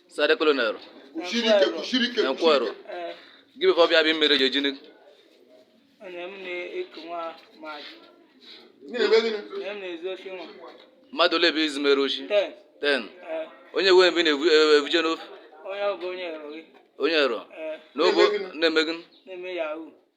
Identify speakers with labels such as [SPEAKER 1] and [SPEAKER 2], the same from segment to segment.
[SPEAKER 1] sade
[SPEAKER 2] colonel
[SPEAKER 1] nkwero gị before bịa bịa mere gị
[SPEAKER 3] gịnị mmadụ ole
[SPEAKER 1] bụ izu mere oshi ten onye wee mgbe na-evuje n'ofe
[SPEAKER 3] onye ero
[SPEAKER 1] n'obo na-eme gịnị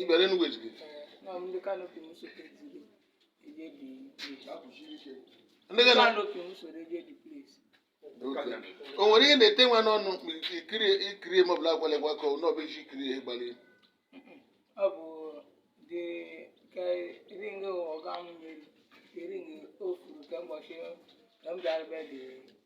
[SPEAKER 2] ị bịara Enugu ejighi nọ m ndị canopy
[SPEAKER 3] m sote jiri eje dị ndị gị na
[SPEAKER 2] canopy m soro eje the place o nwere ihe na-ete nwa n'ọnụ mgbe ikiri ikiri ma ọ bụla agwala gwa ka ọ nọbụ iji ikiri ihe
[SPEAKER 3] gbali ọ bụ dị ka ring ọga m nyere ring o furu ka ụbọchị ka m bịara be dị